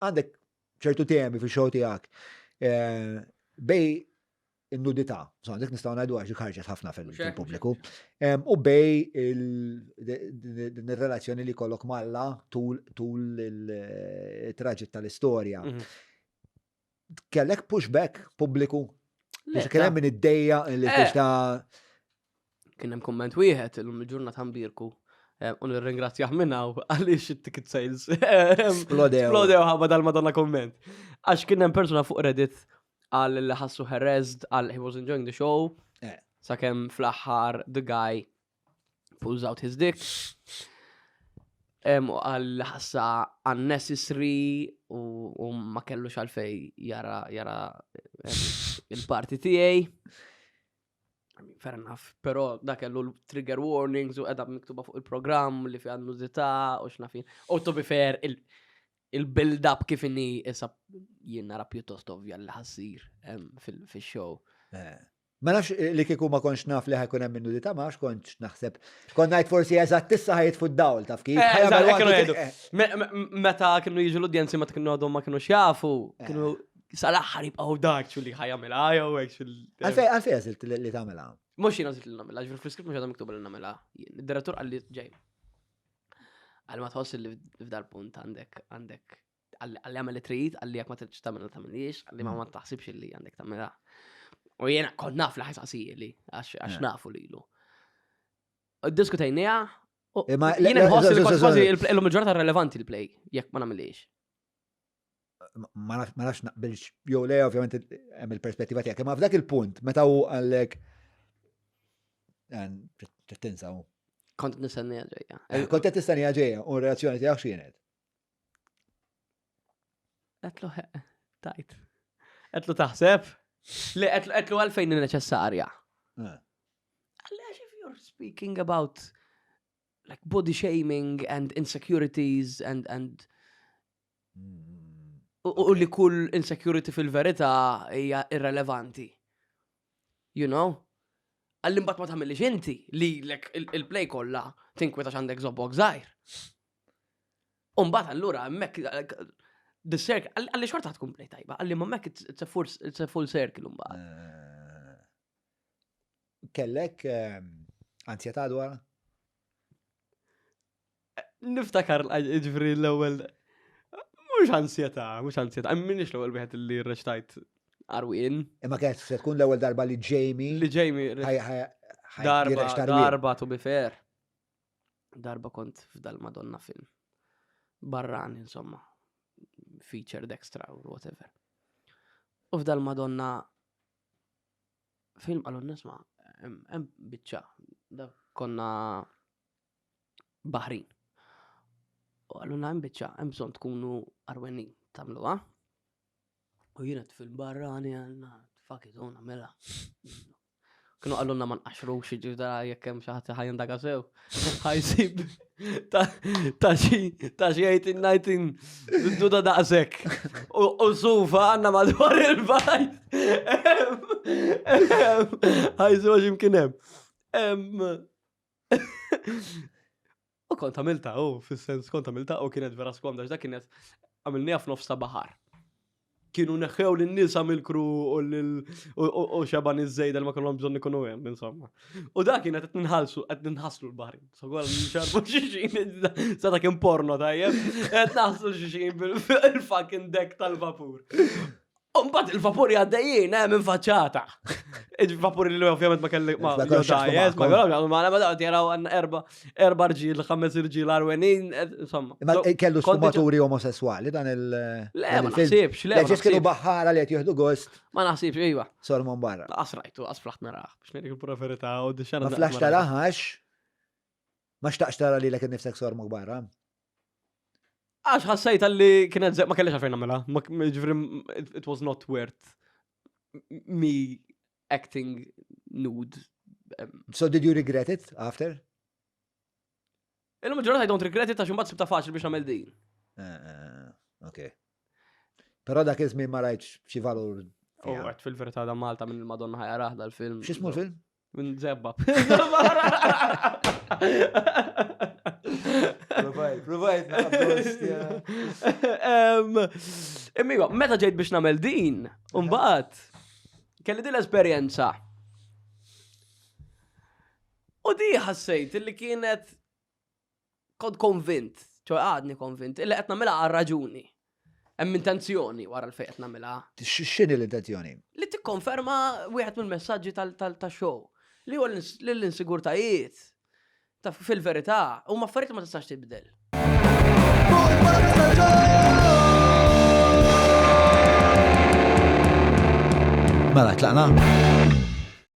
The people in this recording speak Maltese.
għandek ċertu temi fi show tiegħek eh, bej in-nudità, so għandek nistgħu ngħidu għax ħarġet ħafna fil-pubbliku, u bej il-relazzjoni li kollok malla tul il-traġit eh, tal-istorja. Mhm. Kellek pushback pubbliku? Kien hemm min id-dejja li eh. ta' Kien hemm kumment wieħed illum il-ġurnata mbirku eh, u nirringrazzjah minn hawn għaliex it-ticket sales eh, Splodew. splodew ħabba dal-madonna kumment. Għax kien hemm persuna fuq Reddit għal li ħassu harassed għal he was enjoying the show Eh. sakemm fl-aħħar the guy pulls out his dick. Em, u għal li ħassa unnecessary u, u ma kellux għalfej jara, jara em, il-parti tiegħi. Fair enough, pero da kellu trigger warnings u edha miktuba fuq il-programm li fi għandu zita u xnafin. U to be fair, il-build-up kif inni issa jien nara pjuttost ovvja li ħassir fil-show. Eh. Ma nafx eh, li kiku ma konx naf li ħajkun hemm minnu ta' max konx naħseb. Kon ngħid forsi eżatt tissa ħajt fuq dawl taf kif. Eh, meta kienu jiġu l-udjenzi ma kienu għadhom ma kienu xjafu, kienu Sal-aħħar jibqgħu dak xu li ħajamilha jew hekk xu. Għalfej għalfej għażilt li tagħmilha. Mhux jien għażilt li nagħmilha, ġifier fl-iskript mhux għadha miktuba li nagħmilha. Id-direttur qal li ġej. Għal ma tħoss li f'dal punt għandek għandek għalli għamel trid, għalli għak ma tridx tagħmel tagħmiliex, għalli ma ma taħsibx li għandek tagħmilha. U jena kont naf li ħajsaqsiji li għax eh. nafu lilu. Diskutajnija, eh, Jena nħossi li kważi il-lum il-ġurnata relevanti l-play, jekk ma namiliex. ma nafx naqbilx, jew le, ovvjament, hemm il-perspettiva tiegħek. Ma f'dak il-punt, meta hu għallek. Tinsa hu. Kont nistennija ġejja. Eh, kont qed nistennija ġejja, u reazzjoni tiegħek x'kienet? Qedlu tajt. Qedlu taħseb? Le, qedlu għalfejn neċessarja. Eh. Għallex if you're speaking about like body shaming and insecurities and and U li kull insecurity fil-verità hija irrelevanti. You know? Għalli mbagħad ma tagħmilix inti li il-play kollha tinkweta x'għandek żobbok żgħir. U mbagħad allura hemmhekk the circle għalli xorta tkun play tajba, għalli ma hemmhekk it's a full circle mbagħad. Eh, kellek eh, ansjetà dwar? Niftakar ġifri l-ewwel mhux ansjetà, mhux ansjetà, minix l-ewwel wieħed li rreċtajt Arwin. Imma kienet se tkun l-ewwel darba li Jamie. Li Jamie. Darba, darba to be fair. Darba kont f'dal Madonna film. Barran, insomma. Featured extra or whatever. U f'dal Madonna film għalun nisma, hemm biċċa. Konna baħrin. U għalluna hemm biċċa hemm bżonn tkunu arwenin tagħmluha. U jiena fil barrani għandna fakit u mela. Kienu għalluna ma nqaxrux ġifda jekk hemm xi ħadd ħajn daga sew. Ħajsib ta' xi ta' xi 18 duda daqshekk. U sufa għandna madwar il-bajt. Ħajsu għax imkien hemm. U kont għamilta, u fil-sens kont għamilta, u kienet vera skomda, dak kienet għamilni għaf nofs ta' bahar. Kienu neħħew l-nisa mill-kru u xaban iż-żejda li ma kellhom bżonn ikunu hemm, insomma. U dak kienet qed ninħalsu, qed ninħaslu l-bahri. So għal nxarbu xixin, sa ta' kien porno tajjeb, qed naħslu xixin bil-fucking dek tal-vapur. Mbagħad il-vapuri għaddejjin hemm infaċċata. Il-vapuri li ovvjament ma kelli ma ma kellhom ma ma daqt jaraw għandna erba' erba' rġiel, ħames irġiel arwenin, insomma. Imma kellu sfumaturi omosessuali dan il Le, ma naħsibx, le. Ġiex kienu baħħara li qed jieħdu gost. Ma naħsibx, iva. Solmon barra. Asrajtu, asflaħt naraħ, biex ngħidik il-proferità u d-xena. Ma flax taraħax. Ma xtaqx tara lilek innifsek sor mukbar, ha? Għax ħassejta li kienet ze- ma kellix għalfejn nagħmilha. Ma k- Ġifri, m- it it was not worth me acting nude. Em, So did you regret it after? Illum il-ġurnata I don't regret it għax imbagħad sibta faċli biex nagħmel din. Eh, eh, Ok. Però dak iż-żmien ma rajtx xi valur. U fiha. għat fil-verità da Malta minn il-Madonna ħajaraħ dal-film. X'ismu l-film? Minn zebba. Provajt, provajt, Immigo, meta ġejt biex namel din, umbaħt, kelli din l-esperienza. U di ħassejt li kienet kont konvint, ċo għadni konvint, illi qed nagħmilha għal raġuni. Hemm intenzjoni wara l-fejn qed nagħmilha. X'inhi l-intenzjoni? Li tikkonferma wieħed mill-messaġġi tal-show li huwa l-insigurtajiet fil-verità huma affarijiet ma tistax tibdel. Mela tlaqna.